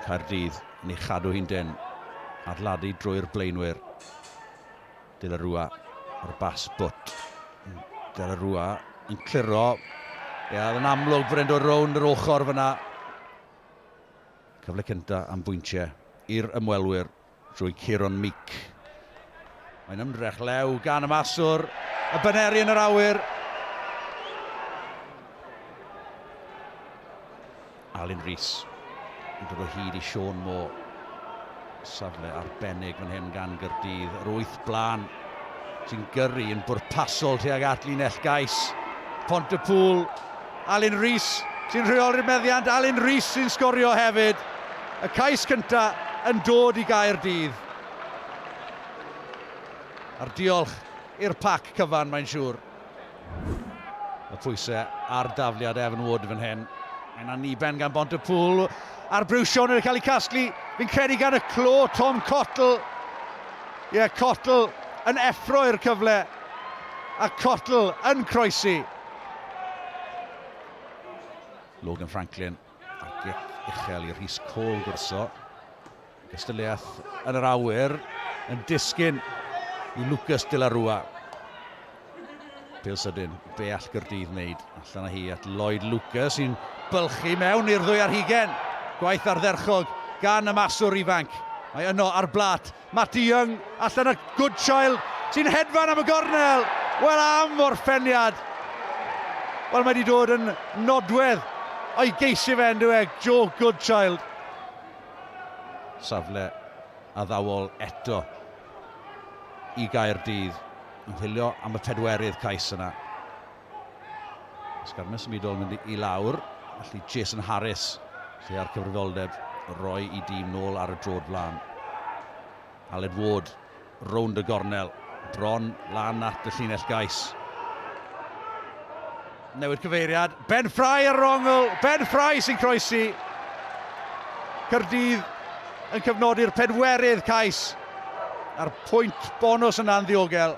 Caerdydd yn ei chadw hi'n dynn. Adladu drwy'r blaenwyr. De La Rua ar bas bwt. De La Rua yn cliro. Ie, oedd yn amlwg bod e'n dod rownd yr ochr fyna. Cyfle cyntaf am bwyntiau i'r ymwelwyr. drwy Kieron Meek. Mae'n ymdrech lew gan y maswr, y baneri yn yr awyr. Alun Rhys yn dod o hyd i Sean Moore. Safle arbennig fan hyn gan Gyrdydd. Yr wyth blaen sy'n gyrru yn bwrpasol tuag at linell gais. Pont y pŵl Alun Rees sy'n rheoli'r meddiant, Alun Rees sy'n sgorio hefyd. Y cais cyntaf yn dod i Gaerdydd. A'r diolch i'r pac cyfan mae'n siŵr. Y pwysau ar dafliad Evan Wood fan hyn. Mae'n anniben gan Bont y Pŵl. A'r briwsion yn cael ei casglu, fi'n credu gan y clo, Tom Cottle. Ie, yeah, Cottle yn effroi'r cyfle. A Cottle yn croesi. Logan Franklin a gic uchel i Rhys Cole gwrso. Gystadleuaeth yn yr awyr yn disgyn i Lucas de la Rua. Pil sydyn, be all Gyrdydd wneud allan â hi at Lloyd Lucas sy'n bylchu mewn i'r ddwy ar hugen. Gwaith ardderchog gan y maswr ifanc. Mae yno ar blat Matty Young allan a Goodchild sy'n hedfan am y gornel! Wel am orffeniad! Wel mae wedi dod yn nodwedd o'i geisio fe yn e, Joe Goodchild. Safle addawol eto i Gaerdydd yn chwilio am y pedwerydd cais yna. Ysgarmau symudol yn mynd i lawr. Felly Jason Harris, lle ar cyfrifoldeb roi i dîm nôl ar y drod flan. Aled Ward, rownd y gornel, bron lan at y llinell gais. Newid cyfeiriad, Ben Fry ar yr ongl, Ben Fry sy'n croesi. Cyrdydd yn cyfnodi'r pedwerydd cais a'r pwynt bonus yna'n ddiogel.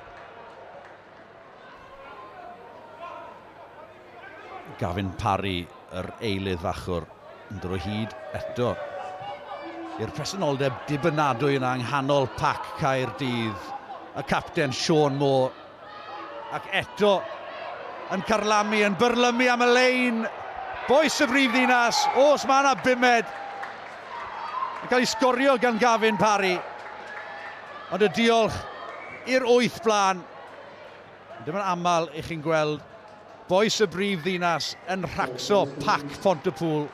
Gavin Parry, yr eilydd fachwr, yn dod o hyd eto i'r presenoldeb dibynadwy yna yng nghanol pac Caerdydd, y capten Sean Moore, ac eto yn carlamu, yn byrlymu am y lein, boes y brif ddinas, os mae yna bumed, yn cael ei sgorio gan Gavin Parry, ond y diolch i'r wyth blaen Ddim yn aml i chi'n gweld bois y brif ddinas yn rhacso pac Phont-y-pŵl.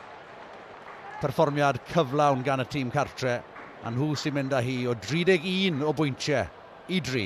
Perfformiad cyflawn gan y tîm cartre, a nhw sy'n mynd â hi o 31 o bwyntiau i dri.